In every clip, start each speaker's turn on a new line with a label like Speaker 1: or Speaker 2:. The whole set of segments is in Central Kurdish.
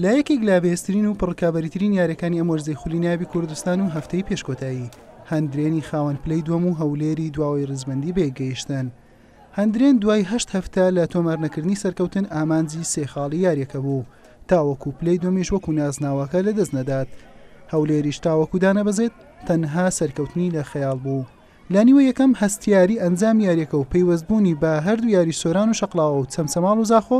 Speaker 1: لە یەکێک لە بەهێزترین و پڕکابەریترین یاریەکانی ئەم وەرزەی خولی نایابی کوردستان و هەفتەی پێش کۆتایی هەندرێنی خاوەن پلەی دووەم و هەولێری دواوەی ڕیزبەندی بێ گەیشتن هەندرێن دوای هەشت هەفتە لە تۆمارنەکردنی سەرکەوتن ئامانجی سێ خاڵی یاریەکە بوو تاوەکو پلەی دومیش وەکو نازناوەکە لە دەست نەدات هەولێریش تاوەکو دانەبەزێت تەنها سەرکەوتنی لە خەیاڵ بوو لە نیوە یەکەم هەستیاری ئەنجام یاریەکە و پەیوەست بوونی بە هەردوو یاری سۆران و شەقڵاوە و چەمچەماڵ و زاخۆ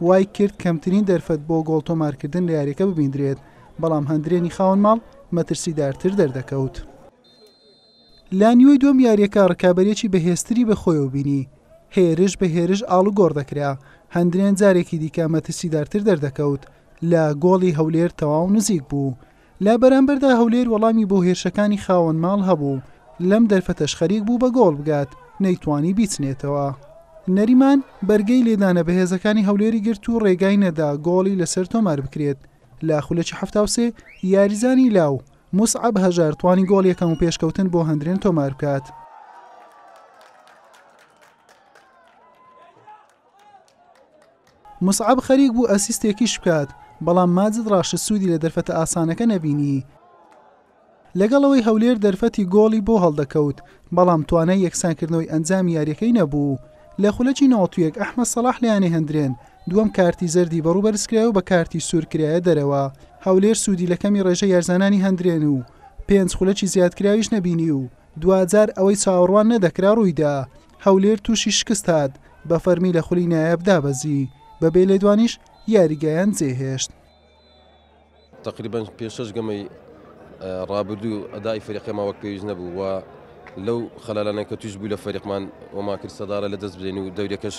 Speaker 1: وای کرد کەمترین دەرفەت بۆ گۆڵ تۆمارکردن لە یاریەکە ببیندرێت بەڵام هەندرێنی خاوەن ماڵ مەترسیدارتر دەردەکەوت. لە نیوەی دووەم یاریەکە رکابەریەکی بەهێزتری بە خۆیەوە بینی هێرش بە هێرش ئاڵوگۆڕ دەکرا هەندرێن جارێکی دیکە مەترسیدارتر دەردەکەوت لە گۆڵی هەولێر تەواو نزیک بوو لە بەرامبەردا هەولێر وەڵامی بۆ هێرشەکانی خاوەن ماڵ هەبوو، لەم دەرفەتەش خەریک بوو بە گۆڵ بگات، نەیتوانی بیچنێتەوە. نەریمان بەرگەی لێدانە بەهێزەکانی هەولێری گرت و رێگای نەدا گۆڵی لەسەر تۆمار بکرێت، لە خولەکی حەفتا و سێ یاریزانی لاو، موسعەب هەژار توانی گۆڵ یەکەم و پێشکەوتن بۆ هەندرێن تۆمار بکات. موسعەب خەریک بوو ئەسیستێکیش بکات، بەڵام ماجد ڕاشد سوودی لە دەرفەتە ئاسانەکە نەبینی. لەگەڵ ئەوەی هەولێر دەرفەتی گۆڵی بۆ هەڵدەکەوت، بەڵام توانای یەکسانکردنەوەی ئەنجامی یارییەکەی نەبوو. لە خولەکی نەوەد و یەک ئەحمەد سەڵاح لەیانەی هەندرێن، دووەم کارتی زەردی بەڕوو بەرزکرایەوە بە کارتی سوور کرایە دەرەوە. هەولێر سوودی لە کەمی ڕێژەی یارزانانی هەندرێن و پێنج خولەکی زیادکراویش نەبینی و دواجار ئەوەی چاوەڕوان نەدەکرا ڕوویدا. هەولێر تووشی شکست هات، بە فەرمی لە خولی نایاب دابەزی، بە بێ لێدوانیش یاریگایان جێهێشت.
Speaker 2: تەقریبەن پێش شەش گەمەی ڕابردوو ئەدای فەریقەما وەک پێویست نەبوو و لەو خەلالانە کە توش بوو لە فەریقمان وەما کرد سەدارە لە دەست بدەین و دەورەکەش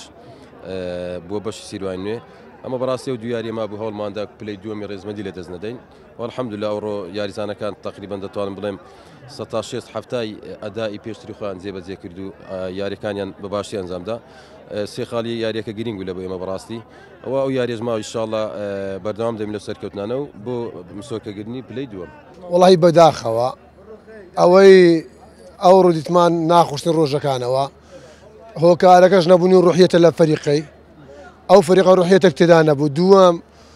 Speaker 2: بووە بەشی سیروای نوێ ئەمە بەڕاستی و دویاریێما بوو هەوڵماندا پلەی دووەمی ڕێزمەندی لە دەست نەدەین. والحمدللە ئەوڕۆ یاریزانەکان تەقریبەن دەتوانم بڵێم سەد تا شێست حەفتای ئەدائی پێشتری خۆیان جێبەجێ کرد و یاریەکانیان بە باشی ئەنجامدا سێ خاڵی یاریەکە گرنگ بوو لە بۆ ئێمە بەڕاستی ئەوە ئەو یاریێژ ماوە ئیشاڵە بەردەوام دەبین لە سەرکەوتنانە و بۆ مسۆرکەگرنی پلەی دووە وڵی بەداخەوە
Speaker 3: ئەوەی ئەو ڕودیتمان ناخشتن ڕۆژەکانەوە هۆکارەکەش نەبوونی ڕحیەتە لە فەریقەی ئەو فەریقە ڕحیەتە تێدا نەبوو دووەم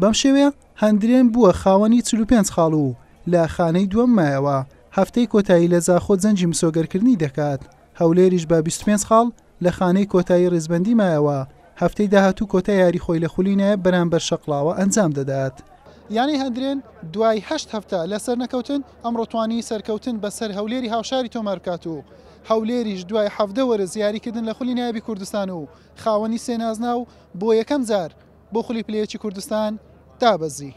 Speaker 1: بەم شێوەیە هەندرێن بووە خاوەنی چل و پێنج خاڵ و لە خانەی دووەم مایەوە، هەفتەی کۆتایی لە زاخۆ جەنگی مسۆگەرکردنی دەکات، هەولێریش بە بیست و پێنج خاڵ لە خانەی کۆتایی ریزبەندی مایەوە، هەفتەی داهاتوو کۆتا یاری خۆی لە خولی نایب بەرامبەر شەقڵاوە ئەنجام دەدات. یانەی هەندرێن دوای هەشت هەفتە لە سەرنەکەوتن، ئەمڕۆ توانی سەرکەوتن بەسەر هەولێری هاوشاری تۆمار بکات و هەولێریش دوای حەڤدە وەرز یاریکردن لە خولی نایبی کوردستان و خاوەنی سێ نازناو، بۆ یەکەم جار بۆ خولی پلەیەکی کوردستان دابەزی.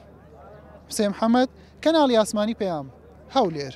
Speaker 1: حوسێن محەمەد، کەناڵی ئاسمانی پەیام، هەولێر.